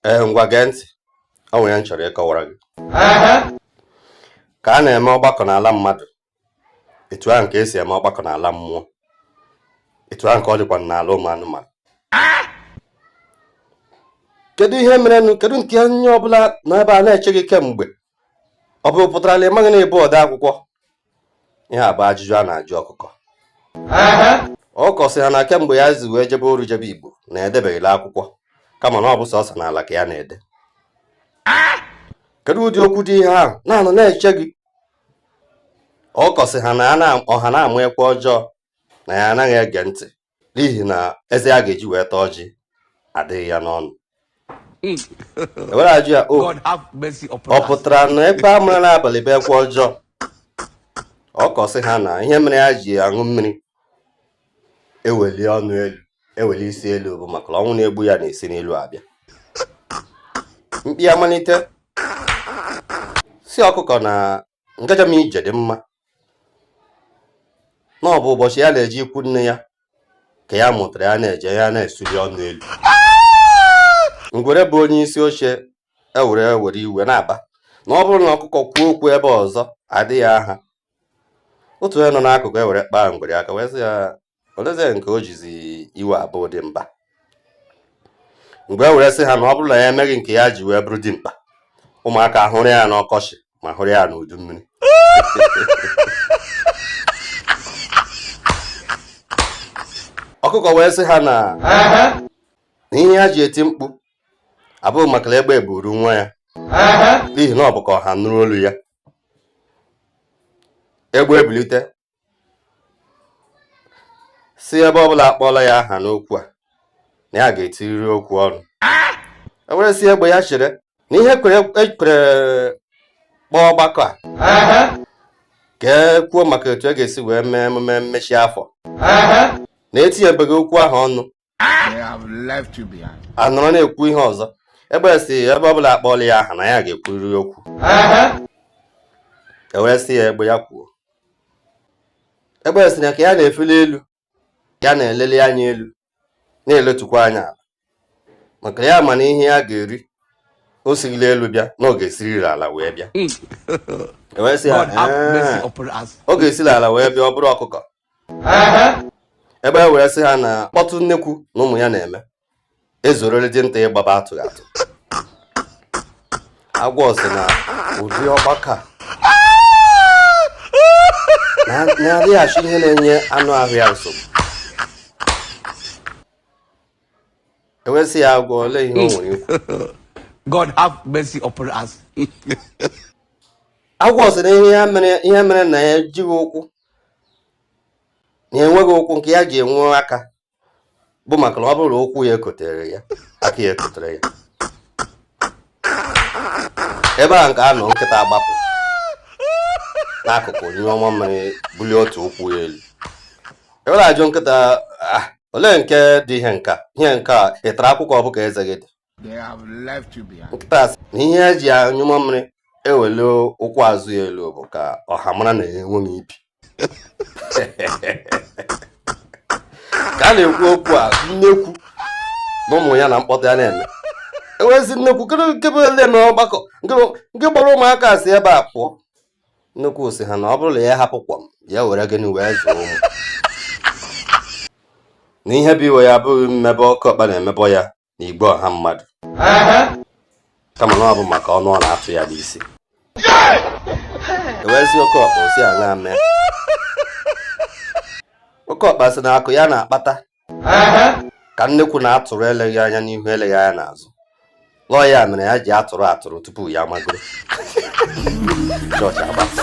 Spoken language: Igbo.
ee ngwa gee ntị o nwere ihe m chọrọ ịkọwara gị ka a na-eme ọgbakọ n'ala mmadụ etu ahụ ka e si eme ọgbakọ n'ala mmụọ etu ahụ ka ọ dịkwa n'ala ụmụ anụmanụ kedu ihe merenụ kedu nke onye ọbụla nọ ebe a na-eche gị kemgbe ọ bụ pụtara na ị maghị na ị bụ ode akwụkwọ ihe a bụ ajụjụ a na-ajụ ọkụkọ ọkụkọ sị ha na kemgbe ya zi wee jebe oru jebe igbo na edebeghị n'akwụkwọ kama na ọ bụ sọsọ n'ala ka ya na-ede kedu ụdị okwu dị ihe ahụ na anọ na-eche gị ọkụkọ sị ha na ọha na-ama ekwe ọjọọ na ya anaghị ege ntị n'ihi na eze ya ga-eji wee taa ọjị adịghị ya n'ọnụ ewere ajụ ya o ọ pụtara na ekwe a mara n'abalị bụ ekwe ọjọọ ọkụkọ sị ha na ihe mere ya ji aṅụ mmiri eweli ọnụ elu eweli isi elu bụ maka na ọnwụ na-egbu ya na-esi n'elu abịa mkpi amalite sị ọkụkọ na ịga njem ije dị mma na ọ bụ ụbọchị ya na-eje ikwu nne ya ka ya mụtara ya na-eje ya na-esuli ọnụ elu ngwere bụ onye isi oche ewere were iwe na-aba na ọ bụrụ na ọkụkọ kwuo okwu ebe a ọzọ a daa ya nha otu onye nọ n'akụkụ ewere kpaa ngwere aka wee sị ya olezie nke o jizi iwe abụ dimkpa ngwere were sị ha na ọ bụrụ na ya emeghị nke ya ji wee bụrụ dimkpa ụmụaka hụrụ ya n'ọkọchị ma hụrụ ya n'udu mmiri ọkụkọ wee sị ha na ihe ya ji eti mkpu abụghị maka na egbe buru nwa ya n'ihi na ọ bụ ka ọha nụrụ olu ya egbe ebilite sị ebe ọbụla akpọọla ya aha n'okwu a na ya ga-etiriri okwu ọnụ ewere sị egbe ya chere na ihe e kworo kpọọ ọgbakọ a ka e kwuo maka etu e ga-esi wee mee emume mmechi afọ na etinyebeghị okwu ahụ ọnụ anọrọ na-ekwu ihe ọzọ egbe sị ebe ọbụla akpọọla ya aha na ya ga-ekwuriri okwu ewee sị ya egbe ya kwuo egbe sị na ka ya na-efeli elu ya na-eleli anya elu na-eletukwa anya ala maka ya ma na ihe ya ga-eri o sighị n'elu bịa na ọ ga-esiriri ala wee bịa hmm. e wee sị ya ọ ga-esiri ala wee bịa ọ bụrụ ọkụkọ egbe ewee sị ha na mkpọtụ nnekwu na ụmụ ya na-eme ezuorole dinta ịgbaba atụghị atụ agwọ sị na ụdị ọgbakọ a na-adịghachi ihe na-enye anụ ahụ ya nsogbu e wee sị ya agwọ olee ihe o nwere ikwu God have mercy upon us. agwọ sị na ihe ya mere ihe mere na ya ejighị ụkwụ na enweghị ụkwụ nke ya ji enwe aka bụ maka na ọ bụrụ ụkwụ ya ekotere ya aka ya ekotere ya ebe a nke a nọ nkịta agbapụ n'akụkụ nyụọ mamịrị bulie otu ụkwụ ya elu e wee na-ajụ nkịta ah, olee nke dị ihe nke a ị tara akwụkwọ ọ bụ ka eze gị dị nkịta sị na ihe e ji anyụ mamịrị ewele ụkwụ azụ ya elu bụ ka ọha mara na ya enweghị ibi ka a na-ekwu okwu a nnekwu na ụmụ ya na mkpọtụ ya na-eme e wee sị nnekwu nke bụ ele na ọgbakọ nke kpọrọ ụmụaka si ebe a pụọ nnekwu sị ha na ọ bụrụ na ya hapụ kwọm ya were gịnị wee zụọ ụmụ na ihe bụ iwe ya abụghị mmebọ oke ọkpa na-emebọ ya n'igwe ọha mmadụ kama na ọ bụ maka ọnụ ọ na-atụ ya n'isi e wee sị oke ọkpa o si aṅaa mee oke ọkpa sị na akụ ya na-akpata ka nnekwu na-atụrụ eleghị anya n'ihu eleghị anya n'azụ na ọ ya mere ya ji atụrụ atụrụ tupu ya magoro chọọchị agbasa